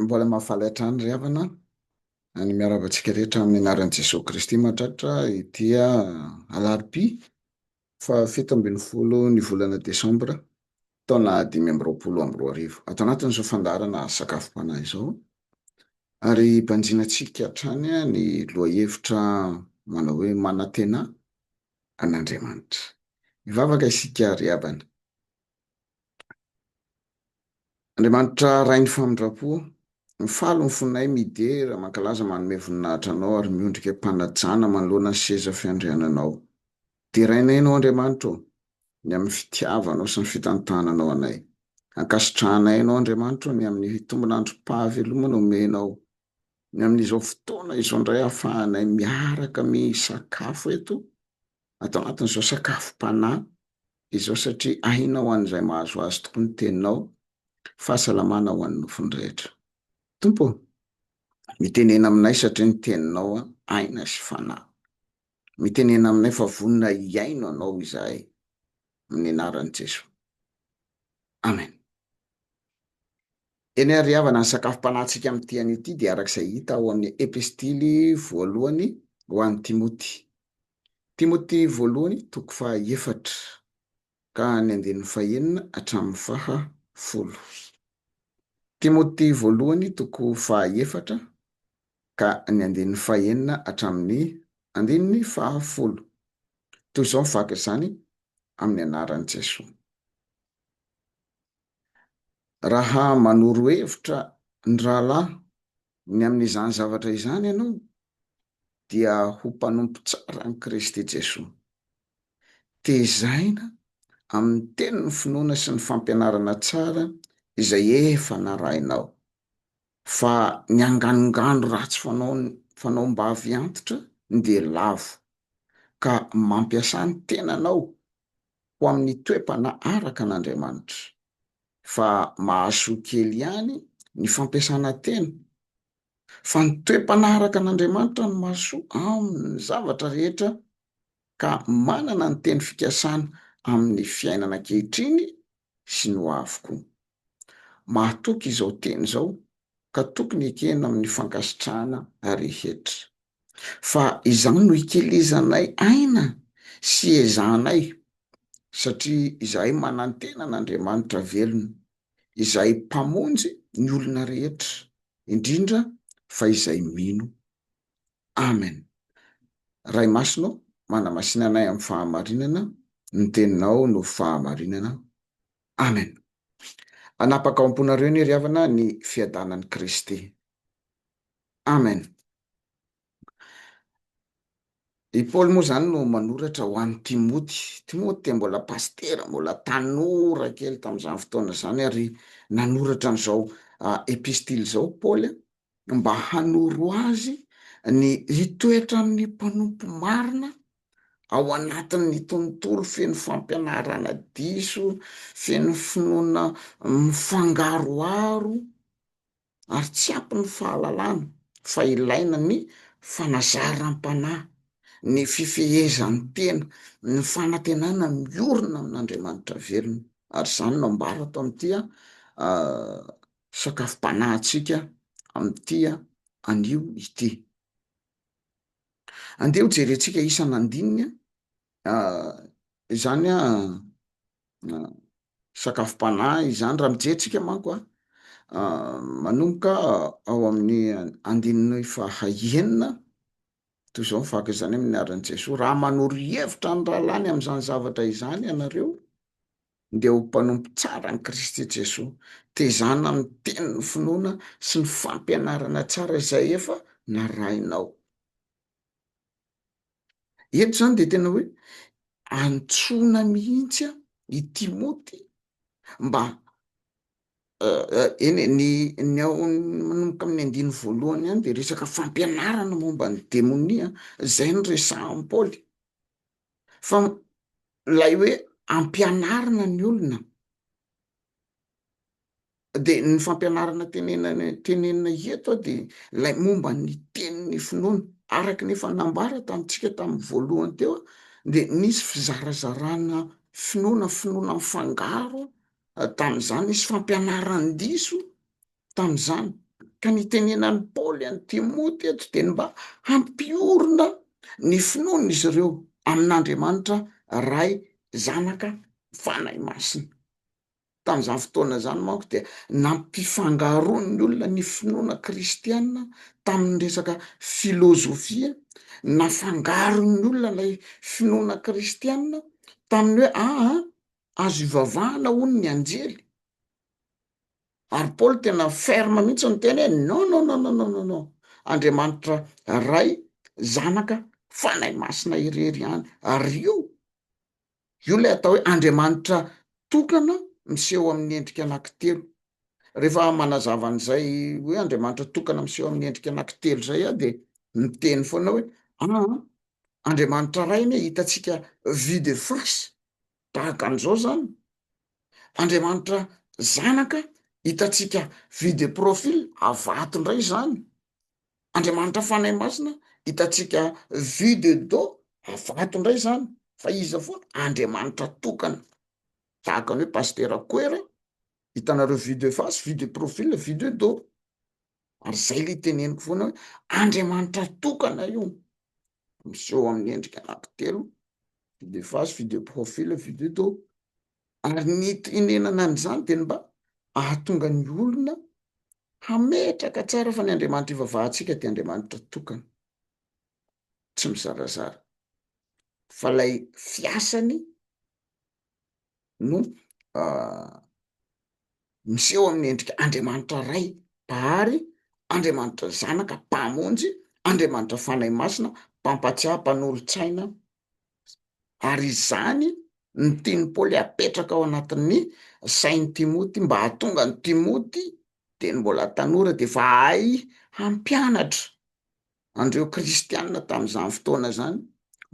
Mbola mahafaly hatrany ry havana ny miarahaba antsika rehetra amin'ny anaran'i Jesoa Kristy mahatratra ity alarobia fahafito ambin'ny folo ny volana desambra taona dimy amby roapolo amby roa arivo. Ato anatin'izao fandaharana sakafom-panahy izao ary banjinantsika hatrany ny lohahevitra manao hoe manantena an'Andriamanitra. Hivavaka isika ry havana. Andriamanitra Rain'ny famindram-po, mifaly ny fonay midera, mankalaza, manome voninahitra Anao ary miondrika am-panajana manoloana ny seza fiandriananao. Derainay Ianao Andriamanitra ô, ny amin'ny fitiavanao sy ny fitantananao anay. Ankasitrahanay Anao Andriamanitra ô, ny amin'ny tombon'androm-pahavelomana omenao ny amin'izao fotoana izao indray ahafahanay miaraka misakafo eto ato anatin'izao sakafom-panahy izao satria aina ho an'izay mahazo azy tokoa ny teninao, fahasalamana ho an'ny nofony rehetra. Tompo ô! Mitenena aminay satria ny teninao aina sy fanahy. Mitenena aminay fa vonona hihaino anao izahay amin'ny anaran'i Jesoa. Amen. Eny ary havana ny sakafom-panahintsika amin'ity anio ity dia araka izay hita ao amin'ny Epistily voalohany ho an'i Timoty. Timoty voalohany toko faha efatra ka ny andininy faha enina hatramin'ny faha folo. Timoty voalohany toko faha efatra ka ny andininy faha enina hatramin'ny andininy faha folo. Toy izao ny vaky izany amin'ny anaran'i Jesoa. Raha manoro hevitra ny rahalahy ny amin'izany zavatra izany ianao, dia ho mpanompo tsara an'i Kristy Jesoa. Tezaina amin'ny teny ny finoana sy ny fampianarana tsara izay efa narahinao. Fa ny anganongano ratsy fanaon'ny fanaom-bavy antitra dia lavo, ka mampiasa ny tenanao ho amin'ny toe-panahy araka an'Andriamanitra, fa mahasoa kely ihany ny fampiasana teny, fa ny toe-panahy araka an'Andriamanitra no mahasoa amin'ny zavatra rehetra, ka manana ny teny fikasana amin'ny fiainana ankehitriny sy ny hoavy koa. Mahatoky izao teny izao, ka tokony ekena amin'ny fankasitrahana rehetra. Fa izany no ikelezanay aina sy iezahanay, satria izahay manantena an'Andriamanitra velona, izay Mpamonjy ny olona rehetra, indrindra fa izay mino. Amen. Ray Masina ô, manamasina anay amin'ny fahamarinana, ny Teninao no fahamarinana. Amen. Hanapaka ao am-ponareo anie ry havana ny fiadanan'i Kristy. Amen. I Paoly moa izany no manoratra ho an'i Timoty. Timoty dia mbola pasitera, mbola tanora kely tamin'izany fotoana izany ary nanoratra an'izao epistily izao Paoly mba hanoro azy ny hitoetra amin'ny mpanompo marina ao anatin'ny tontolo feno fampianarana diso, feno finoana mifangaroharo. ary tsy ampy ny fahalalana fa ilaina ny fanazaram-panahy, ny fifehezan-tena, ny fanantenana miorina amin'Andriamanitra velona. Ary izany no ambara ato amin'ity sakafom-panahintsika amin'ity anio ity. Andeha hojerentsika isan'andininy izany sakafom-panahy izany raha mijery tsika manko a manomboka ao amin'ny andininy faha enina toy izao ny faka izany amin'ny anaran'i Jesoa raha manoro hevitra ny rahalany amin'izany zavatra izany ianareo dia ho mpanompo tsara an'i Kristy Jesoa tezana miteny ny finoana sy ny fampianarana tsara izay efa narahinao. Eto izany dia tena hoe antsoina mihitsy i Timoty mba eny e, ny ny ao manomboka amin'ny andininy voalohany ihany dia resaka fampianarana momba ny demonia izay no resahin'i Paoly fa ilay hoe ampianarina ny olona Dia ny fampianarana tenenana tenenina eto dia ilay momba ny tenin'ny finoana. Araka ny efa nambara tamintsika tamin'ny voalohany teo dia nisy fizarazarana finoana, finoana mifangaro tamin'izany, nisy fampianaran-diso tamin'izany. Ka ny itenenan'i Paoly an'i Timoty eto dia ny mba hampiorina ny finoan'izy ireo amin'Andriamanitra Ray, Zanaka, Fanahy Masina. Tamin'izany fotoana izany manko dia nampifangaroan'ny olona ny finoana kristiana tamin'ny resaka filôzôfia. Nafangaron'ny olona ilay finoana kristiana tamin'ny hoe aa azo ivavahana hono ny anjely. Ary Paoly tena ferme mihitsy ny teny hoe non non non non non non Andriamanitra Ray, Zanaka, Fanahy Masina irery ihany. Ary io Io ilay atao hoe andriamanitra tokana miseho amin'ny endrika anankitelo. Rehefa manazava an'izay hoe andriamanitra tokana miseho amin'ny endrika anankitelo izay aho dia miteny foana hoe ah, andriamanitra iray anie hitantsika vue de face tahaka an'izao izany. Andriamanitra zanaka hitantsika vue de profil avato indray izany. Andriamanitra Fanahy Masina hitantsika vue de dos avato indray izany fa iza foana? Andriamanitra tokana tahaka ny hoe Pasitera Koera hitanareo vue de face, vue de profil, vue de dos ary izay ilay teneniko foana hoe Andriamanitra tokana io. miseho amin'ny endrika anankitelo, vue de face, vue de profil, vue de dos. Ary ny itenenana an'izany dia ny mba hahatonga ny olona hametraka tsara fa ny Andriamanitra ivavahantsika dia Andriamanitra tokana, tsy mizarazara, fa ilay fiasany no miseho amin'ny endrika Andriamanitra Ray, Mpahary, Andriamanitra Zanaka, Mpamonjy, Andriamanitra Fanahy Masina, Mpampatsiahy, Mpanolotsaina, ary izany no tian'i Paoly hapetraka ao anatin'ny sain'i Timoty mba hahatonga an'i Timoty, teny mbola tanora, dia efa hahay hampianatra an'ireo kristiana tamin'izany fotoana izany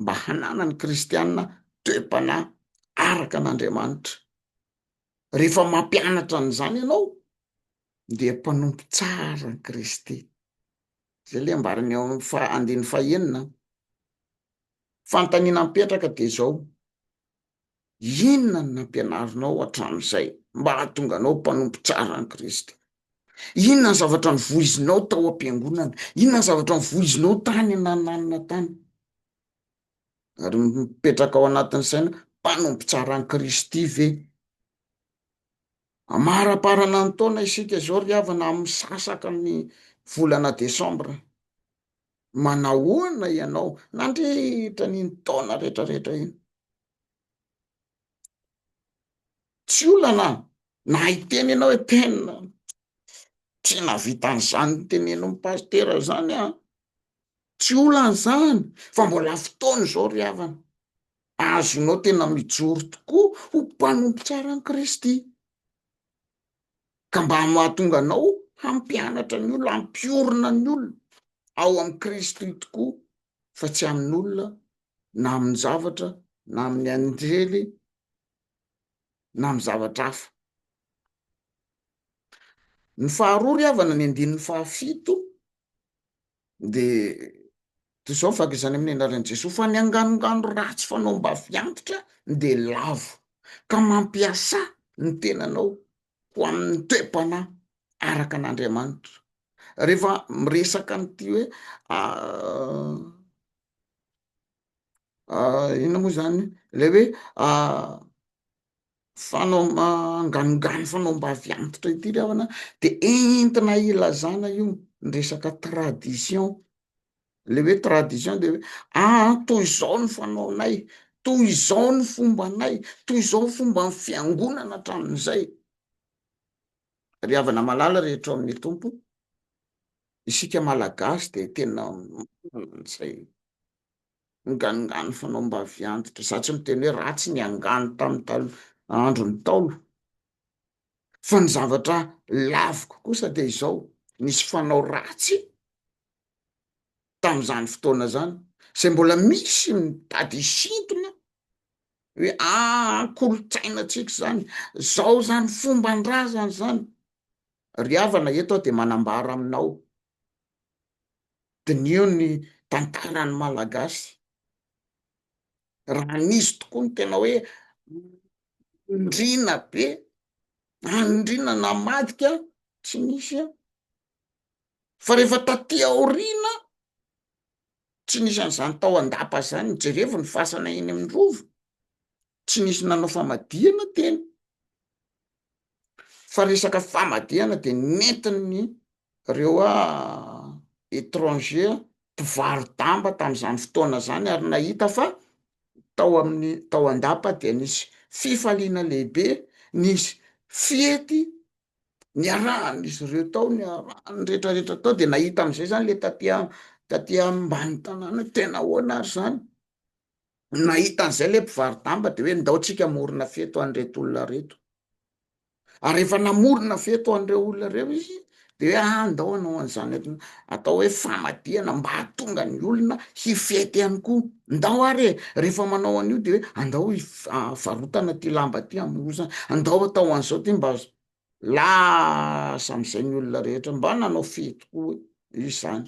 mba hananan'ny kristiana toe-panahy araka an'Andriamanitra. Rehefa mampianatra an'izany ianao dia mpanompo tsara an'i Kristy. Izay ilay ambarany ao amin'ny fa andininy fahenina. Fanontaniana mipetraka dia izao, Inona no nampianarinao hatramin'izay mba hahatonga anao mpanompo tsara an'i Kristy? Inona ny zavatra novoizinao tao am-piangonana? Inona ny zavatra novoizinao tany anananana tany? Ary mipetraka ao anatin'ny saina, mpanompo tsara an'i Kristy ve? Amaraparana ny taona isika izao ry havana, misasaka ny volana desambra. Manahoana ianao nandritra an'iny taona rehetrarehetra iny? Tsy olana na hiteny ianao hoe tena tsy nahavita an'izany notenenin'ny pasitera izany aho. Tsy olana izany fa mbola fotoana izao ry havana azonao tena mijoro tokoa ho mpanompo tsara an'i Kristy. ka mba mahatonga anao hampianatra ny olona, hampiorina ny olona ao amin'i Kristy tokoa fa tsy amin'olona na amin'ny zavatra na amin'ny anjely na amin'ny zavatra hafa. Ny faharoa ry havana ny andininy fahafito dia toy izao ny fahakezany amin'ny anaran'i Jesoa, fa ny anganongano ratsy fanao am-bavy antitra dia lavo, ka mampiasà ny tenanao ho amin'ny toe-panahy araka an'Andriamanitra. Rehefa miresaka an'ity hoe inona moa izany ilay hoe fanao manganongano fanao mbavy antitra ity ry havana dia entina hilazana io ny resaka tradition, le hoe tradition dia hoe aa toy izao ny fanaonay, toy izao ny fombanay, toy izao ny fomban'ny fiangonana hatramin'izay, ry havana malala rehetra ao amin'ny Tompo, isika Malagasy dia tena manana an'izay. Angano'ngano fanao mba avy antitra. Za tsy miteny hoe ratsy ny angano tamin'ny taloha, andron'ny ntaolo. Fa ny zavatra laviko kosa dia izao, nisy fanao ratsy tamin'izany fotoana zany, zay mbola misy mitady hisintona hoe ah kolontsainantsika zany, zao zany fomban-drazana zany. Ry havana eto aho dia manambara aminao Diniho ny tantaran'ny Malagasy, raha nisy tokoa ny tena hoe andriana be, andriana namadika, tsy nisy an! Fa rehefa taty aoriana, tsy nisy an'izany tao an-dapa izany, jerevo ny fasana eny amin'ny rova, tsy nisy nanao famadihana teny. fa resaka famadihana dia nentin'ny reo a etranger mpivaro-damba tamin'izany fotoana zany ary nahita fa tao amin'ny tao an-dapa dia nisy fifaliana lehibe nisy fiety niarahan'izy ireo tao niarahany retraretra tao dia nahita am'izay zany le taty taty ambany tanàna tena ahoana ary zany Nahita an'izay ilay mpivaro-damba dia hoe ndao tsika hamorona fety ho an'ireto olona ireto. Ary rehefa namorona fety ho an'ireo olona ireo izy dia hoe ah ndao hanao an'izany atao hoe famadihana mba hahatonga ny olona hifety ihany koa. Ndao ary e, rehefa manao an'io dia hoe andao varotana ity lamba ity hamorozana, andao atao an'izao ity mba lasa amin'izay ny olona rehetra, mba nanao fety koa izany.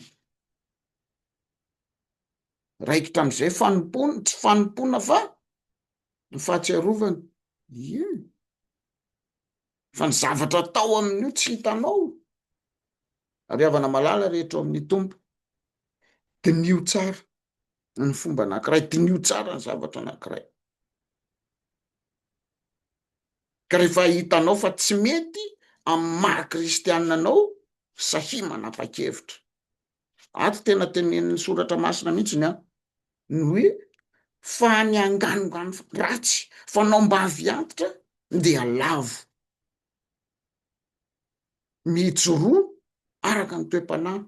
Raikitra amin'izay fanompoana, tsy fanompoana fa ny fahatsiarovana. Ie. Fa ny zavatra atao amin'io tsy hitanao. Ary havana malala rehetra ao amin'ny Tompo. Diniho tsara ny fomba anankiray, diniho tsara ny zavatra anankiray. Ka rehefa hitanao fa tsy mety amin'ny maha-kristianina anao, sahia manapa-kevitra. Ato tena tenenin'ny soratra masina mihitsy ny aho, ny hoe fa ny anganongano ratsy fanaom-bavy antitra dia lavo mijoroa araka ny toe-panahy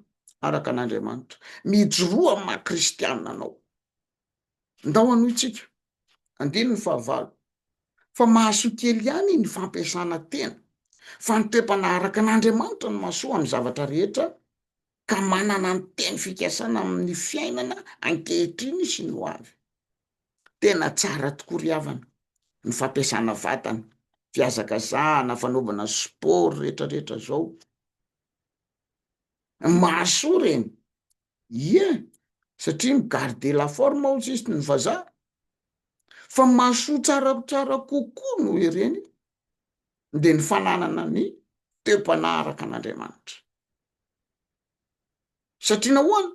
araka an'Andriamanitra, mijoroa amin'ny maha kristiana anao. Ndao hanohintsika. Andininy fahavalo. Fa mahasoa kely ihany ny fampiasana tena, fa ny toe-panaraka an'Andriamanitra no mahasoa amin'ny zavatra rehetra, ka manana ny teny fikasana amin'ny fiainana ankehitriny sy ny ho avy. Tena tsara tokoa ry havana, ny fampiasana vatana, fihazakazahana, fanaovana sport retraretra zao. Mahasoa ireny, Ie, satria mi garder la forme ao sisiny ny vazaha. Fa mahasoa tsaratsara kokoa noho ireny dia ny fananana ny toe-panahy araka an'Andriamanitra. Satria nahoana?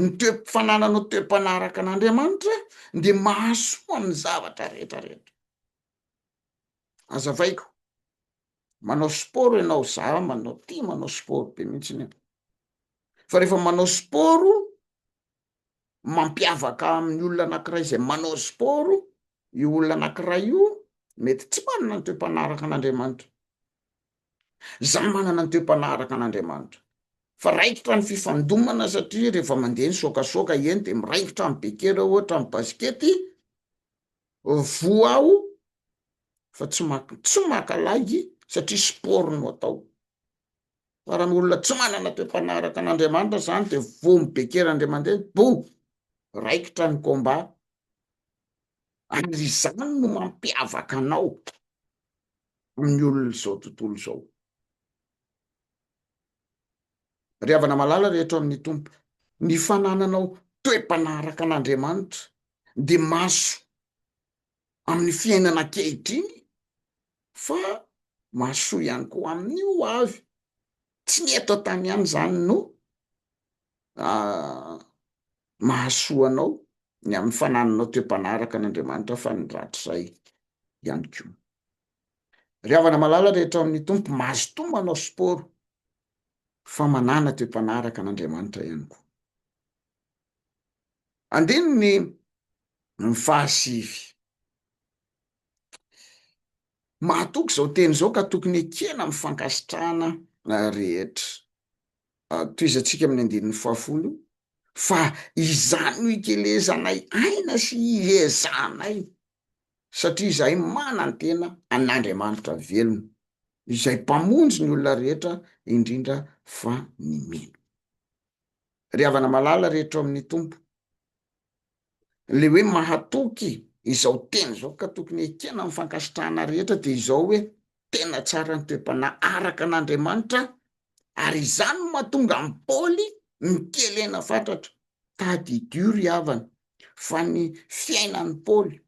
Ny toe- fananana toe-panahy araka an'Andriamanitra dia mahasoa amin'ny zavatra rehetra rehetra. azavaiko manao sport ianao za manao ty manao sport be mihitsy ny fa rehefa manao sport mampiavaka amin'ny olona anakiray izay manao sport io olona anakiray io mety tsy manana ny toem-panaraka an'andriamanitra za manana ny toem-panaraka an'andriamanitra fa raikitra ny fifandomana satria rehefa mandeha ny sokasoka eny de miraikitra ny bekera ohatra ny basikety voa aho fa tsy maka tsy maka lagy satria sport no atao fa raha ny olona tsy manana toe-panaraka an'Andriamanitra izany dia voa mibekera indray mandeha bo raikitra ny combat ary izany no mampiavaka anao amin'ny olona izao tontolo izao ry havana malala rehetra ao amin'ny tompo ny fanananao toe-panaraka an'Andriamanitra dia mahasoa amin'ny fiainana ankehitriny fa mahasoa ihany koa amin'ny ho avy. Tsy ny eto an-tany ihany izany no mahasoa anao ny amin'ny fanananao toe-panaraka an'Andriamanitra fa ny rahatrizay ihany koa. Ry havana malala rehetra ao amin'ny Tompo, mazotoa manao sport fa manana toe-panaraka an'Andriamanitra ihany koa. Andininy ny fahasivy. Mahatoky izao teny izao ka tokony ekena amin'ny fankasitrahana rehetra. Tohizantsika amin'ny andininy fahafolo fa izany no ikelezanay aina sy iezanay satria izahay manantena an'Andriamanitra velona izay mpamonjy ny olona rehetra indrindra fa ny mino. ry havana malala rehetra ao amin'ny Tompo. Ilay hoe mahatoky izao teny izao ka tokony hekena amin'ny fankasitrahana rehetra dia izao hoe tena tsara ny toe-panahy araka an'Andriamanitra ary izany no mahatonga an'i Paoly mikelena fatratra. Tadidio ry havana fa ny fiainan'i Paoly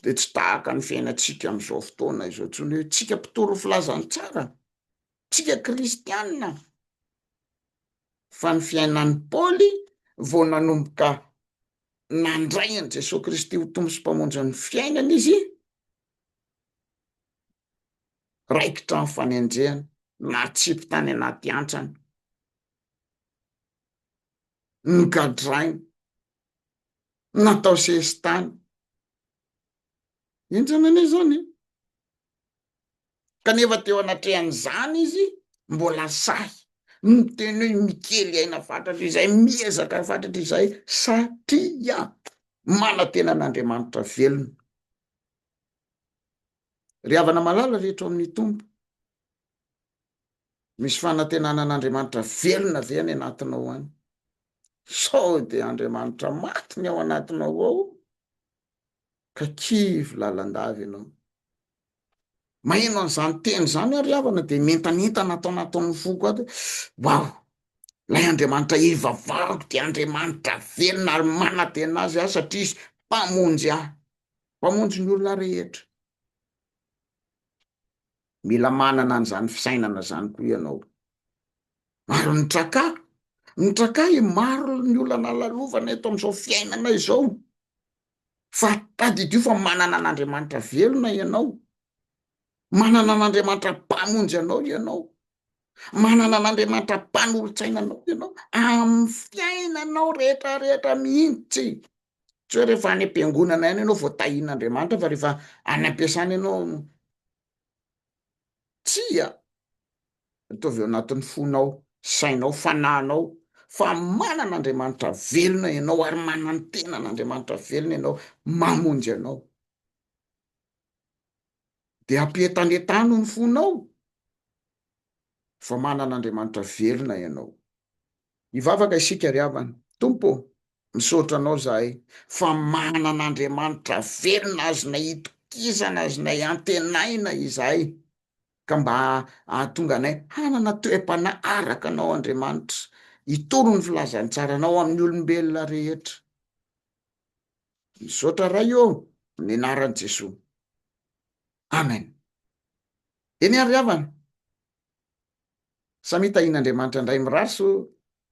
dia tsy tahaka ny fiainantsika amin'izao fotoana izao intsony hoe tsika mpitory ny filazantsara Tsia kristiana, fa ny fiainan'i Paoly vao nanomboka nandray an'i Jesoa Kristy ho Tompo sy Mpamonjin'ny fiainany izy, raikitra ny fanenjehana, natsipy tany anaty antsana, nogadraina, natao sesitany. Henjana anie izany e! kanefa teo anatrehan'izany izy mbola sahy miteny hoe mikely aina fatratra izay, miezaka fatratra izay satria manantena an'Andriamanitra velona. Ry havana malala rehetra ao amin'ny Tompo, misy fanantenana an'Andriamanitra velona ve any anatinao any? Sao dia Andriamanitra maty ny ao anatinao ao? Ka kivy lalandava ianao. Maheno an'izany teny izany aho ry havana dia mientanentana ato anatin'ny foko ato hoe waouh! Ilay Andriamanitra hivavariko dia Andriamanitra velona ary manantena azy aho satria izy mpamonjy ahy, mpamonjy ny olona rehetra. Mila manana an'izany fisainana izany koa ianao. Ary ny traka, ny traka maro ny olana lalovana eto amin'izao fiainana izao. fa tadidio fa manana an'Andriamanitra velona ianao, manana an'Andriamanitra mpamonjy anao ianao, manana an'Andriamanitra mpanolotsaina anao ianao amin'ny fiainanao rehetra rehetra mihitsy, tsy hoe rehefa any am-piangonana ihany ianao vao tahian'Andriamanitra fa rehefa any am-piasana ianao Tsia! Ataovy ao anatin'ny fonao, sainao, fanahinao fa manana Andriamanitra velona ianao ary manantena an'Andriamanitra velona ianao mamonjy anao. Dia ampientanentano ny fonao fa manana Andriamanitra velona ianao. Hivavaka isika ry havana. Tompo ô, misaotra Anao zahay fa manana Andriamanitra velona azonay itokisana, azonay antenaina izahay, ka mba hahatonga anay hanana toe-panahy araka Anao Andriamanitra, hitory ny filazantsaranao amin'ny olombelona rehetra. Misaotra Ray ô, amin'ny anaran'i Jesoa. Amen. Eny ary havana! Samia tahian'Andriamanitra indray mirary soa